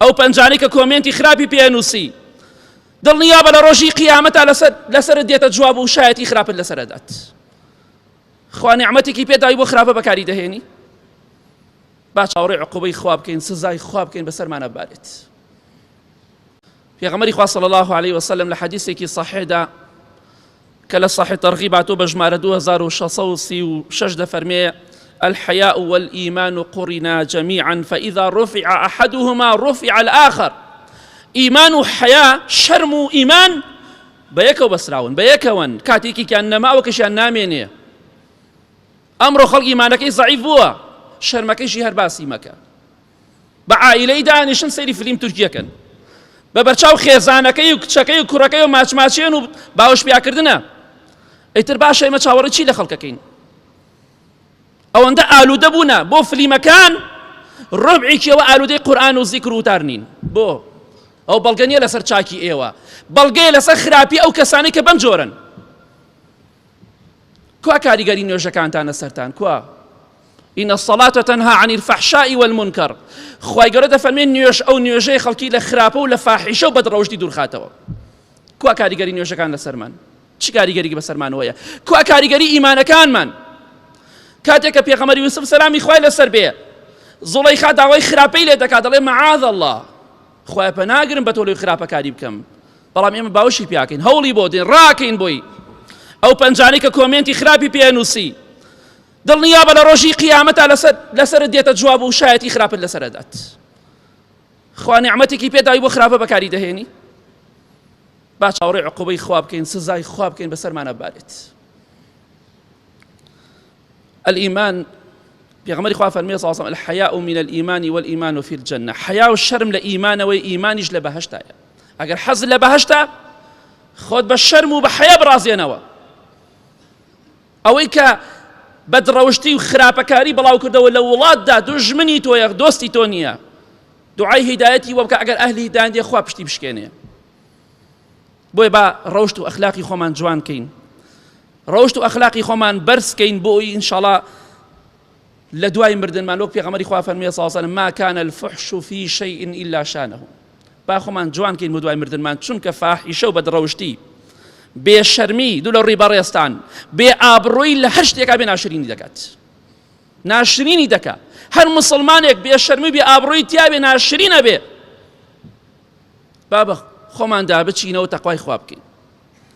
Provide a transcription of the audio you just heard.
ئەو پەنجانەی کە کۆمێنتی خراپی پێنووسی دڵنیا بە لە ڕۆژی قیامەتا لەسەر دێتە جواب و شایەتی خراپت لەسەرەدات خوانی عمەتێکی پێداوی بۆ خراپە بەکاری دەهێنی با چاوەڕێ عقوبەی خوا بکەین سزای خوا بکەین بەسەرمانە بارێت پێغەمبەری خوا صلی اللە علیە وسلم لە حەدیسێکی صحیحدا کە لە صحیح تەرغیب هاتووە بە ژمارە 2636 دەفەرمێ الحياء والإيمان قرنا جميعا فإذا رفع أحدهما رفع الآخر ئیمان و حیا شەرم و ئیمان بە یەکەوە بەسراون بە یەکەوەن کاتێکیان نەماوە کەشیان نامێنێ ئەمڕۆ خەڵکی مانەکەی زعیف بووە شەرمەکەیشی هەر باسی مەکە بە عائیلەی دانیشن سەیری فلیم تورکیەکەن بە بەرچاو خێزانەکەی و کچەکەی و کوڕەکەی و ماچماچێن و باوش پیاکردنە ئەیتر باشە ئێمە چاوەڕی چی لە خەڵکەکەین ئەوەندە ئالوودە بوونە بۆ فلیمەکان ڕۆبعێکیەوە ئالوودەی قورآن و زیکر وتار نین بۆ ئەو بەڵگە نیە لەسەر چاکی ئێوە بەڵگەیە لەسەر خراپی ئەو کەسانی کە بەم جۆرن کوا کاریگەری نوێژەکانتان لەسەرتان کوا ان الصلاة تنها عن الفحشاء والمنكر خوای گەورە دەفەرمێن نوێژ ئەو نوێژەی خەڵکی لە خراپە و لە فاحیشە و بەدڕەوشتی دوورخاتەوە کوا کاریگەری نوێژەکان لەسەرمان چ کاریگەری بەسەرمان وەیە کوا کاریگەری ئیمانەکانمان کاتێک کە پێغەمەری یوسف سەلامی خوای لەسەر بێ زڵەیخا داوای خراپەی لێ دەکات دەڵێ معاذ الله خوایە پەناگرم بە تۆ لەوی خراپەکاری بکەم بەڵام ئێمە باوشی پیاکەین هەوڵی بۆ دێن ڕاکەین بۆی ئەو پەنجانەی کە کۆمێنتی خراپی پێنووسی دڵنیا بە لە ڕۆژی قیامەتا لەسەر لەسەر دێتە جواب و شایەتی خراپت لەسەر دەدات خوا نعمەتێکی پێداوی بۆ خراپە بەکاری دەهێنی با چاوەڕێ عقوبەی خوا بکەین سزای خوا بکەین بەسەرمانە بارێت الایمان پێغەمبەری خوا فەرمی صلی الله الحیاء من الايمان والایمان فی الجنه حیا و شرم لە ئیمانەوەی ئیمانیش لە بەهشتایە ئەگەر حەز لە بەهشتا خۆت بە شەرم و بە حیا بڕازێنەوە ئەوەی کە بەدڕەوشتی و خراپەکاری بڵاو کردەوە لە وڵاتدا دوژمنی تۆیە دۆستی تۆ نییە دوعای هیدایەتی وەکە ئەگەر ئەهلی هیدایەتی خوا پشتی بشکێنێ بۆیە با ڕەوشت و ئەخلاقی خۆمان جوان کەین ڕەوشت و ئەخلاقی خۆمان بەرز کەین بۆ ئەوی ئینشاڵا لە دوای مردنمان وەک پێغەمەری خوا فەرمیێ ساسەن ما كان الفحش في شيء إلا شانه با خۆمان جوان کەین بۆ دوای مردنمان چونکە فاحیشە و بەدڕەوشتی بێ شەرمی دوو لە ڕووی بەڕێستان بێ ئابڕۆی لە هەر شتێکا بێ ناشرینی دەکات ناشرینی دەکات هەر مسلمانێک بێ شەرمی بێ ئابڕۆی تیاێ ناشرینە بێ با بە خۆماندا بچینەوە تەقوای خوا بکەین.